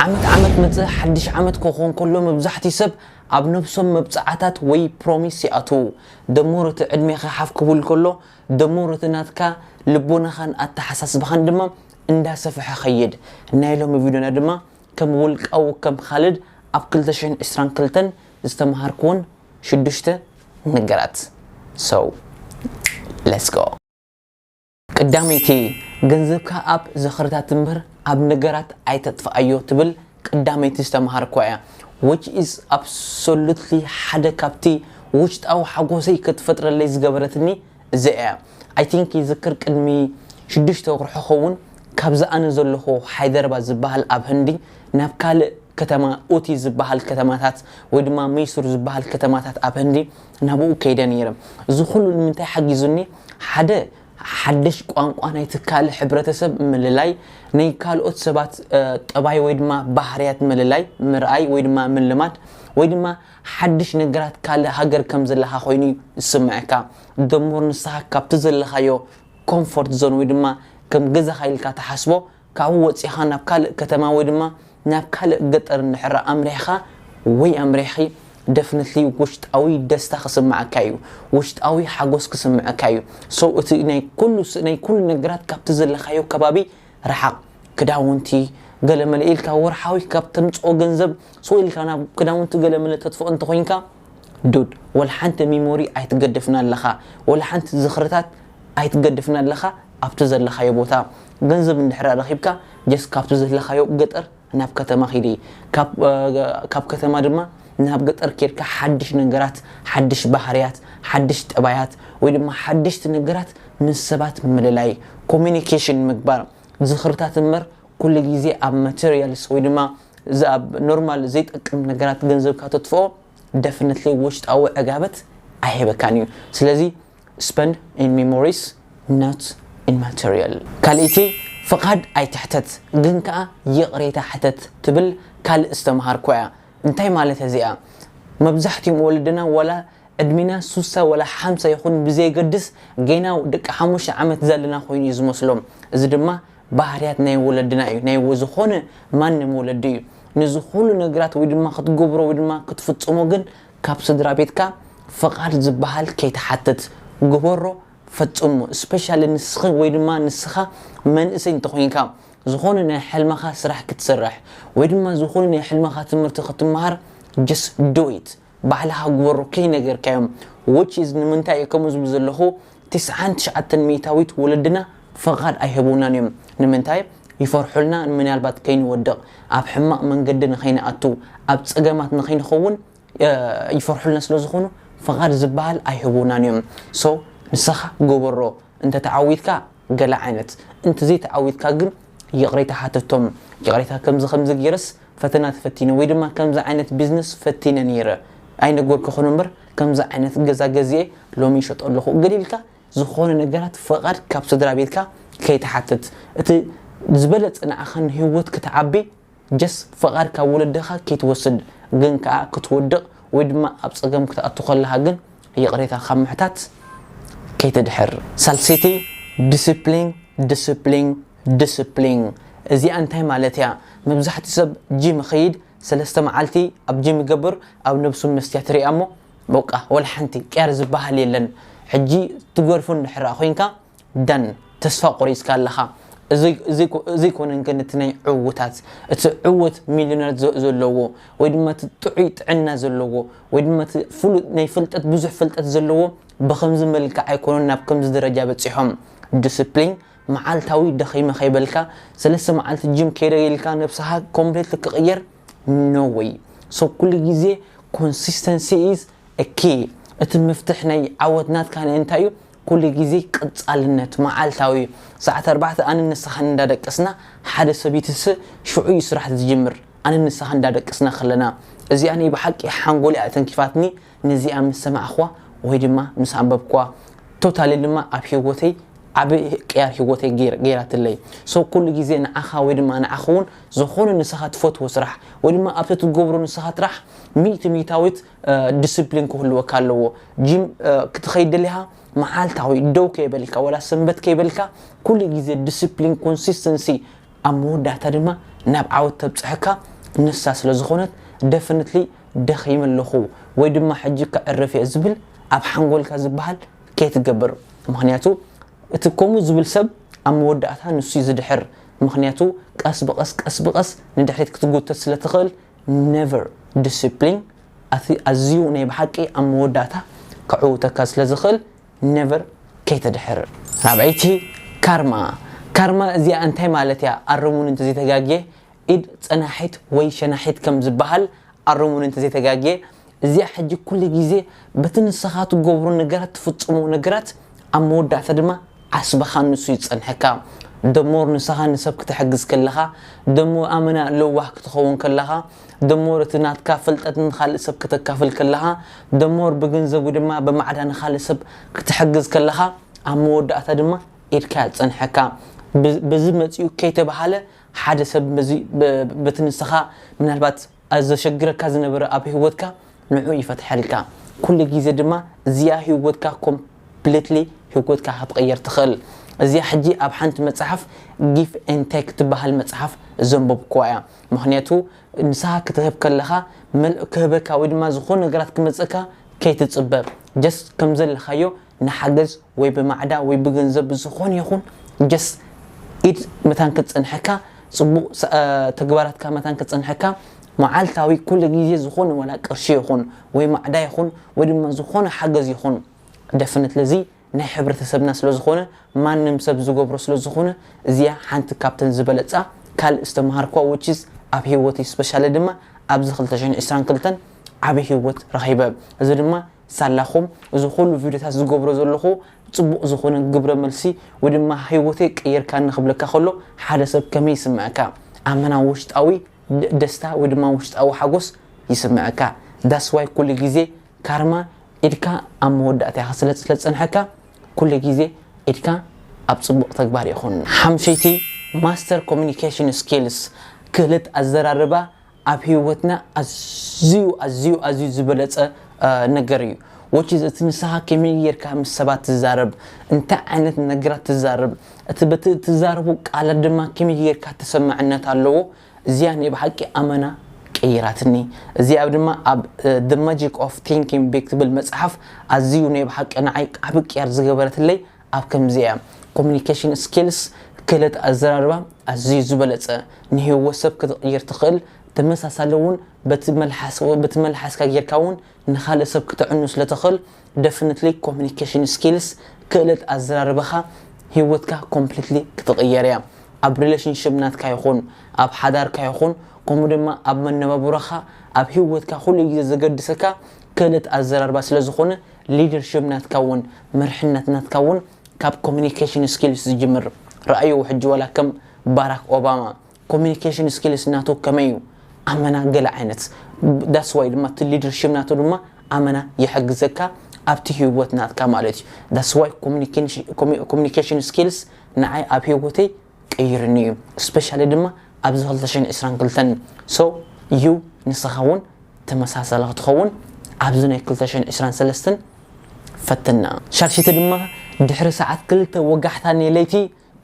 ዓመት ዓመት መጸ ሓድሽ ዓመት ክኾን ከሎ መብዛሕትኡ ሰብ ኣብ ነብሶም መብጽዓታት ወይ ፕሮሚስ ይኣትዉ ደሞር እቲ ዕድሜኻ ሓፍ ክብል ከሎ ደሞር እቲ ናትካ ልቦናኻን ኣተሓሳስባኻን ድማ እንዳ ሰፈሐ ኸይድ ናይ ሎሚ ቪድዮና ድማ ከም ውልቃዊ ከም ኻልድ ኣብ ክልተ ሽሕን ዕስራን ክልተን ዝተማሃርክወን ሽዱሽተ ነገራት so let's go። ቀዳመይቲ፣ ገንዘብካ ኣብ ዝኽርታት እምበር ኣብ ነገራት ኣይተጥፍኣዮ ትብል ቀዳመይቲ ዝተማሃርክዋ እያ፣ which is absolutely ሓደ ካብቲ ውሽጣዊ ሓጎሰይ ክትፈጥረለይ ዝገበረትኒ እዚኣ እያ፣ I think ይዝክር ቅድሚ ሽዱሽተ ወርሑ ክኸውን ካብዚ ኣነ ዘለኹዎ ሃይደርባት ዝበሃል ኣብ ህንዲ ናብ ካልእ ከተማ ኡቲ ዝበሃል ከተማታት ወይ ድማ መይሱር ዝበሃል ከተማታት ኣብ ህንዲ ናብኡ ከይደ ነይረ። እዚ ኹሉ ንምንታይ ሓጊዙኒ? ሓደ፣ ሓደሽ ቋንቋ ናይ ትካል ሕብረተሰብ ምልላይ፣ ናይ ካልኦት ሰባት ጠባይ ወይ ድማ ባህርያት ምልላይ፣ ምርኣይ ወይ ድማ ምልማድ፣ ወይ ድማ ሓድሽ ነገራት ካልእ ሃገር ከም ዘለኻ ኮይኑ እዩ ዝስመዐካ። ደሞር ንስኻ ካብቲ ዘለኻዮ ኮምፎርት ዞን ወይ ድማ ከም ገዛኻ ኢልካ ትሓስቦ ካብኡ ወጺኻ ናብ ካልእ ከተማ ወይ ድማ ናብ ካልእ ገጠር እንድሕር ኣምሪሕኻ ወይ ኣምሪሕኺ Definitely ውሽጣዊ ደስታ ክስምዓካ እዩ። ውሽጣዊ ሓጎስ ክስምዕካ እዩ። So እቲ ናይ ኩሉ ናይ ኩሉ ነገራት ካብቲ ዘለኻዮ ከባቢ ርሓቕ። ክዳውንቲ ገለመለ ኢልካ ወርሓዊ ካብ ተምጽኦ ገንዘብ ስቕ ኢልካ ናብ ክዳውንቲ ገለመለ ተጥፍኦ እንተኾይንካ፣ ዱድ ወላ ሓንቲ ሚሞሪ ኣይትገድፍና ኣለኻ ወላ ሓንቲ ዝኽርታት ኣይትገድፍና ኣለኻ ኣብቲ ዘለኻዮ ቦታ ገንዘብ እንድሕር ረኺብካ ጀስት ካብቲ ዘለኻዮ ገጠር ናብ ከተማ ኪዲ ካብ ከተማ ድማ ናብ ገጠር ኬድካ ሓድሽ ነገራት ሓድሽ ባህርያት ሓድሽ ጠባያት ወይ ድማ ሓደሽቲ ነገራት ምስ ሰባት ምልላይ ኮሚኒኬሽን ምግባር ዝኽርታት እምበር ኩሉ ግዜ ኣብ ማተርያልስ ወይ ድማ እዚ ኣብ ኖርማል ዘይጠቅም ነገራት ገንዘብካ ተጥፍኦ ደፍነትሊ ውሽጣዊ ዕጋበት ኣይህበካን እዩ ስለዚ ስፐንድ ኢን ሜሞሪስ ኖት ኢን ማተርያል። ካልኣይቲ ፍቃድ ኣይትሕተት ግን ከኣ ይቅሬታ ሕተት ትብል ካልእ ዝተመሃርክዋ እያ እንታይ ማለት እዚኣ መብዛሕቲኦም ወለድና ዋላ ዕድሜና ሱሳ ዋላ ሓምሳ ይኩን ብዘየገድስ ጌና ደቂ ሓሙሽተ ዓመት ዘለና ኮይኑ እዩ ዝመስሎም እዚ ድማ ባህርያት ናይ ወለድና እዩ ናይ ዝኮነ ማንም ወለዲ እዩ ንዝኩሉ ነግራት ወይ ድማ ክትገብሮ ወይ ድማ ክትፍጽሞ ግን ካብ ስድራቤትካ ፍቃድ ዝባሃል ከይትሓትት ግበሮ ፈጽሞ ስፔሻሊ ንስኪ ወይ ድማ ንስካ መንእሰይ እንተኮይንካ ዝኮነ ናይ ሕልምካ ስራሕ ክትሰርሕ ወይ ድማ ዝኮነ ናይ ሕልምካ ትምህርቲ ክትማሃር just do it። ባህልኻ ግበሮ ከይነገርካዮም which is ንምንታይ እየ ከምኡ ዝብል ዘለኹ ትስዓን ትሽዓተን ሚኢታዊት ወለድና ፍቓድ ኣይህቡናን እዮም ንምንታይ ይፈርሑልና ንምናልባት ከይንወድቕ ኣብ ሕማቕ መንገዲ ንኸይንኣቱ ኣብ ጸገማት ንኸይንኸውን ይፈርሑልና ስለ ዝኾኑ ፍቓድ ዝብሃል ኣይህቡናን እዮም so ንስኻ ግበሮ እንተተዓዊትካ ገለ ዓይነት እንተዘይ ተዓዊትካ ግን ይቕሬታ ሓተቶም ይቕሬታ ከምዚ ከምዚ ጌረስ ፈተና ተፈቲነ ወይ ድማ ከምዚ ዓይነት ቢዝነስ ፈቲነ ኔረ ኣይነገርኩኹን እምበር ከምዚ ዓይነት ገዛ ገዚኤ ሎሚ ይሸጦ ኣለኹ ገለ ኢልካ ዝኾነ ነገራት ፍቓድ ካብ ስድራቤትካ ከይትሓትት እቲ ዝበለጸ ንዓኻ ንሂወት ክትዓቢ ጀስ ፍቃድ ካብ ወለድኻ ክይትወስድ ግን ከኣ ክትወድቅ ወይ ድማ ኣብ ጸገም ክትኣቱ ከለኻ ግን ይቅሬታ ካብ ምሕታት ከይተድሕር ሳልሰይቲ ድስፕሊን ድስፕሊን ድስፕሊን እዚኣ እንታይ ማለት እያ መብዛሕትኡ ሰብ ጂም ይኸይድ ሰለስተ መዓልቲ ኣብ ጂም ይገብር ኣብ ነብሱ መስትያት ይሪኣ እሞ በቃ ወላ ሓንቲ ቅያር ዝብሃል የለን ሕጂ ትገርፎ እንድሕር ኮይንካ ዳን ተስፋ ቆሪጽካ ኣለኻ እዙይ ኮነን ግን እቲ ናይ ዕውታት እቲ ዕውት ሚሊዮነር ዘለዎ ወይ ድማ እቲ ጥዑይ ጥዕና ዘለዎ ወይ ድማ እቲ ፍሉጥ ናይ ፍልጠት ብዙሕ ፍልጠት ዘለዎ ብከምዚ መልክዕ ኣይኮኑን ናብ ከምዚ ደረጃ በፂሖም ዲስፕሊን መዓልታዊ ደኺመ ከይበልካ ሰለስተ መዓልቲ ጅም ከይደ ኢልካ ነብስኻ ኮምፕሌት ክቕየር ኖ ወይ ሶ ኩሉ ግዜ ኮንሲስተንሲ ኢዝ ኪ እቲ መፍትሕ ናይ ዓወት ናትካ እንታይ እዩ ኩሉ ግዜ ቀጻልነት መዓልታዊ እዩ ሰዓት ኣርባዕተ ኣነን ንስኻን እንዳ ደቀስና ሓደ ሰብይትሰ ሽዑ እዩ ስራሕ ዝጅምር ኣነን ንስኻን እንዳ ደቀስና ከለና እዚኣ ናይ ብሓቂ ሓንጎለይ ኣተንኪፋትኒ ነዚኣ ምስ ሰማዕክዋ ወይ ድማ ምስ ኣንበብክዋ ቶታሊ ድማ ኣብ ሂወተይ ዓቢ ቅያር ሂወተይ ገይራትለይ so ኩሉ ግዜ ንዓኻ ወይ ድማ ንዓኺ ውን ዝኾነ ንስኻ ትፈትዎ ስራሕ ወይ ድማ ኣብቲ ትገብሮ ንስኻ ጥራሕ ሚእቲ ሚታዊት ዲስፕሊን ክህልወካ ኣለዎ ጂም ክትኸይድ ደሊኻ መዓልታዊ ደው ከይበልካ ወላ ሰንበት ከይበልካ ኩሉ ግዜ ዲስፕሊን ኮንሲስተንሲ ኣብ መወዳእታ ድማ ናብ ዓወት ተብፅሐካ ንሳ ስለ ዝኾነት ደፍንትሊ ደኺመ ኣለኹ ወይ ድማ ሕጂ ከዕርፍ እየ ዝብል ኣብ ሓንጎልካ ዝበሃል ከይትገብር ምክንያቱ እቲ ከምኡ ዝብል ሰብ ኣብ መወዳእታ ንሱ ዝድሕር ምክንያቱ ቀስ ብቀስ ቀስ ብቀስ ንድሕሪት ክትጉተት ስለ ትኽእል Never ዲሲፕሊን ኣቲ ኣዝዩ ናይ ብሓቂ ኣብ መወዳእታ ከዕውተካ ስለ ዝኽእል Never ከይተድሕር። ራብዐይቲ፣ Karma ካርማ እዚኣ እንታይ ማለት እያ ኣርሙኒ እንተዘይ ተጋግየ ኢድ ጸናሒት ወይ ሸናሒት ከም ዝበሃል ኣርሙኒ እንተዘይ ተጋግየ እዚኣ ሕጂ ኩሉ ግዜ በቲ ንሰኻ ትገብሮ ነገራት ትፍጽሞ ነገራት ኣብ መወዳእታ ድማ ዓስብኻ ንሱ ይጸንሕካ the more ንሰኻ ንሰብ ክትሕግዝ ከለኻ the more ኣመና ለዋህ ክትኸውን ከለኻ the more እቲ ናትካ ፍልጠት ንኻልእ ሰብ ከተካፍል ከለኻ the more ብገንዘብ ወይ ድማ ብማዕዳ ንኻልእ ሰብ ክትሕግዝ ከለኻ ኣብ መወዳእታ ድማ ኢድካ ይጸንሕካ በዚ መጺኡ ከይተባህለ ሓደ ሰብ በዚ በቲ ንሰኻ ምናልባት ኣዚ ዘሸግረካ ዝነበረ ኣብ ሂወትካ ንዑ ይፈትሐልካ ኩሉ ግዜ ድማ እዚኣ ሂወትካ ኮምፕሊትሊ ሂወትካ ክትቅየር ትክእል እዚኣ ሕጂ ኣብ ሓንቲ መጽሓፍ ጊፍ ኤን ቴክ ትበሃል መጽሓፍ ዘንበብኩዋ እያ ምክንያቱ ንስካ ክትህብ ከለካ መልእ ክህበካ ወይ ድማ ዝኮነ ነገራት ክመጽእካ ከይትጽበ ጀስት ከምዘለካዮ ንሓገዝ ወይ ብማዕዳ ወይ ብገንዘብ ብዝኾነ ይኹን just ኢድ መታን ክትጸንሐካ ጽቡቅ ተግባራትካ መታን ክትጸንሐካ መዓልታዊ ኩሉ ግዜ ዝኾነ ዋላ ቅርሺ ይኹን ወይ ማዕዳ ይኹን ወይ ድማ ዝኾነ ሓገዝ ይኹን definitely እዚ ናይ ሕብረተሰብና ስለ ዝኾነ ማንም ሰብ ዝገብሮ ስለ ዝኾነ እዚኣ ሓንቲ ካብተን ዝበለጻ ካልእ ዝተማሃርክዋ which is ኣብ ሂወተይ especially ድማ ኣብዚ ክልተ ሽሕን ዕስራን ክልተን ዓቢ ሂወት ረኺበ እዚ ድማ ሳላኹም እዚ ኩሉ ቪድዮታት ዝገብሮ ዘለኹ ጽቡቕ ዝኾነ ግብረ መልሲ ወይ ድማ ህይወተይ ቀይርካኒ ክብለካ ከሎ ሓደ ሰብ ከመይ ይስምዐካ ኣመና ውሽጣዊ ደስታ ወይ ድማ ውሽጣዊ ሓጎስ ይስምዐካ that's why ኩሉ ግዜ ካርማ ኢድካ ኣብ መወዳእታ ኢኻ ስለ ዝጸንሐካ ኩሉ ግዜ ኢድካ ኣብ ጽቡቕ ተግባር ይኹን ሓምሸይቲ ማስተር ኮሙኒኬሽን ስኪልስ ክእለት ኣዘራርባ ኣብ ሂወትና ኣዝዩ ኣዝዩ ኣዝዩ ዝበለጸ ነገር እዩ which is እቲ ንስኻ ከመይ ጌርካ ምስ ሰባት ትዛረብ እንታይ ዓይነት ነገራት ትዛረብ እቲ በቲ እትዛረቦ ቃላት ድማ ከመይ ጌርካ ተሰማዕነት ኣለዎ እዚኣ ናይ ብሓቂ ኣመና ቀይራትኒ እዚኣ ድማ ኣብ the magic of thinking big ትብል መጽሓፍ ኣዝዩ ናይ ብሓቂ ንዓይ ዓቢ ቅያር ዝገበረትለይ ኣብ ከምዚኣ ኮሙኒኬሽን ስኪልስ፣ ክእለት ኣዘራርባ፣ ኣዝዩ ዝበለጸ፣ ንህይወት ሰብ ክትቕይር ትኽእል፣ ተመሳሳሊ ውን በቲ መልሓስ በቲ መልሓስካ ጌርካ ውን ንኻልእ ሰብ ክተዕኑ ስለ ትኽእል ደፍነትሊ ኮሙኒኬሽን ስኪልስ፣ ክእለት ኣዘራርባኻ ህይወትካ ኮምፕሊትሊ ክትቕየር እያ። ኣብ ሪለሽንሽፕ ናትካ ይኹን ኣብ ሓዳርካ ይኹን ከምኡ ድማ ኣብ መነባብሮኻ ኣብ ህይወትካ ኩሉ ግዜ ዘገድሰካ ክእለት ኣዘራርባ ስለ ዝኾነ ሊደርሽፕ ናትካ ውን መርሕነት ናትካ ውን ካብ ኮሚኒኬሽን ስኪልስ ዝጅምር ረኣይዎ ሕጂ ዋላ ከም ባራክ ኦባማ ኮሚኒኬሽን ስኪልስ ናቱ ከመይ ዩ ኣመና ገለ ዓይነት ዳትስ ዋይ ድማ እቲ ሊደርሽፕ ናቱ ድማ ኣመና ይሕግዘካ ኣብቲ ሂወት ናትካ ማለት ዩ ዳትስ ዋይ ኮሚኒኬሽን ስኪልስ ንዓይ ኣብ ሂወተይ ቀይርኒ እዩ ስፔሻሊ ድማ ኣብዚ ክልተ ሽሕን ዕስራን ክልተን so you ንስኻ ውን ተመሳሳሊ ክትኸውን ኣብዚ ናይ ክልተ ሽሕን ዕስራን ሰለስትን ፈትና። ሻርሽቲ ድማ ድሕሪ ሰዓት ክልተ ወጋሕታ ናይ ለይቲ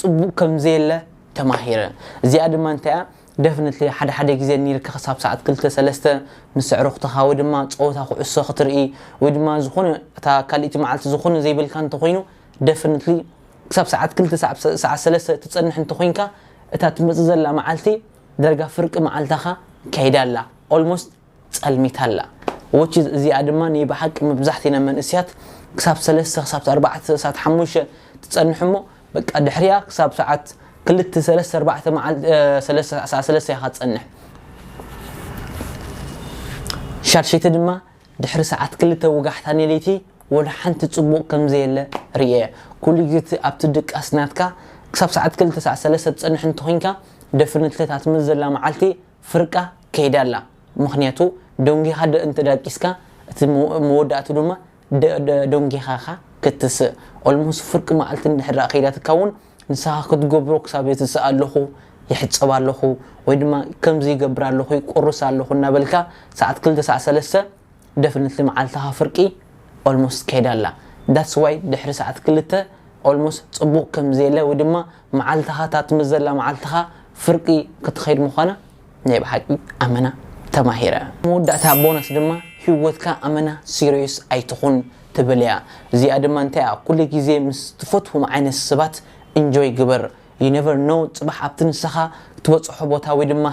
ጽቡቅ ከም ዘየለ ተማሂረ እዚኣ ድማ እንታይ እያ ደፍነትሊ ሓደ ሓደ ግዜ ኒርካ ክሳብ ሰዓት ክልተ ሰለስተ ምስ ኣዕሩኽትኻ ወይ ድማ ጸወታ ኩዕሶ ክትርኢ ወይ ድማ ዝኾነ እታ ካልእቲ መዓልቲ ዝኾነ ዘይብልካ እንተኾይኑ ደፍነትሊ ክሳብ ሰዓት ክልተ ሳዕ ሰዓት ሰለስተ ትጸንሕ እንተኮይንካ እታ ትመጽእ ዘላ መዓልቲ ዳርጋ ፍርቂ መዓልታካ ከይዳ ኣላ Almost ጸልሚታ ኣላ Which is እዚኣ ድማ ንይ ብሓቂ መብዛሕቲና መንእስያት ክሳብ ሰለስተ ክሳብ ኣርባዕተ ሳዓት ሓሙሽተ ትጸንሕ እሞ በቃ ድሕሪኣ ክሳብ ሰዓት ክልተ ሰለስተ ኣርባዕተ መዓልቲ ሰለስተ ሳዓት ሰለስተ ኢካ ትጸንሕ ሻድሸይቲ ድማ ድሕሪ ሰዓት ክልተ ወጋሕታ ንለይቲ ወላ ሓንቲ ጽቡቕ ከም ዘየለ ርእየ። ኩሉ ግዜ እቲ ኣብቲ ድቃስ ናትካ ክሳብ ሰዓት ክልተ ሰዓት ሰለስተ ትጸንሕ እንተ ዄንካ ደፍንትሊ እታ ትመጽእ ዘላ መዓልቲ ፍርቃ ከይዳ ኣላ። ምኽንያቱ ደንጒኻ ደ እንተ ዳቂስካ እቲ መወዳእትኡ ድማ ደንጒኻ ኢኻ ክትትስእ። ኦልሞስ ፍርቂ መዓልቲ እንድሕር ደኣ ከይዳትካ እውን ንስኻ ክትገብሮ ክሳብ የትስእ ኣለኹ፣ ይሕጸብ ኣለኹ፣ ወይ ድማ ከምዚ ይገብር ኣለኹ፣ ይቁርስ ኣለኹ እናበልካ ሰዓት ክልተ ሳዕ ሰለስተ ደፍነትሊ መዓልትኻ ፍርቂ ኦልሞስት ከይዳ ኣላ። ዳትስ ዋይ ድሕሪ ሰዓት ክልተ ኦልሞስት ጽቡቕ ከምዘየለ ወይ ድማ መዓልትኻ እታ ትምዘላ መዓልትኻ ፍርቂ ክትኸይድ ምዃና ናይ ብሓቂ ኣመና ተማሂረ። መወዳእታ ቦነስ ድማ ሂወትካ ኣመና ሲርዮስ ኣይትኹን ትብል እያ እዚኣ ድማ እንታይ እያ ኩሉ ግዜ ምስ ትፈትዎም ዓይነት ሰባት እንጆይ ግበር you never know ጽባሕ ኣብቲ ንሰኻ ትበጽሖ ቦታ ወይ ድማ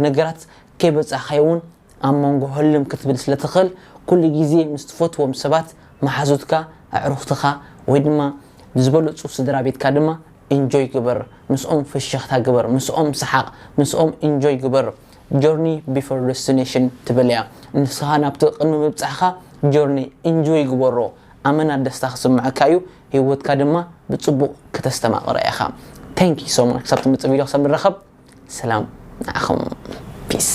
ነገራት ከይበጻሕካዮ ውን ኣብ መንጎ ህልም ክትብል ስለ ትኽእል ኩሉ ግዜ ምስ ትፈትዎም ሰባት መሓዙትካ ኣዕሩኽትኻ ወይ ድማ ዝበለጹ ስድራቤትካ ድማ ኢንጆይ ግበር ምስኦም ፍሽኽታ ግበር ምስኦም ስሓቕ ምስኦም ኢንጆይ ግበር ጆርኒ ቢፎር ደስቲነሽን ትብል እያ ንስኻ ናብቲ ቅድሚ ምብጻሕኻ ጆርኒ ኢንጆይ ግበሮ ኣመና ደስታ ክስመዐካ እዩ ሂወትካ ድማ ብጽቡቕ ክተስተማቕራ ኢኻ Thank you so much ክሳብ ትመጽእ ቪድዮ ክሳብ ንራኸብ ሰላም ንዓኹም Peace።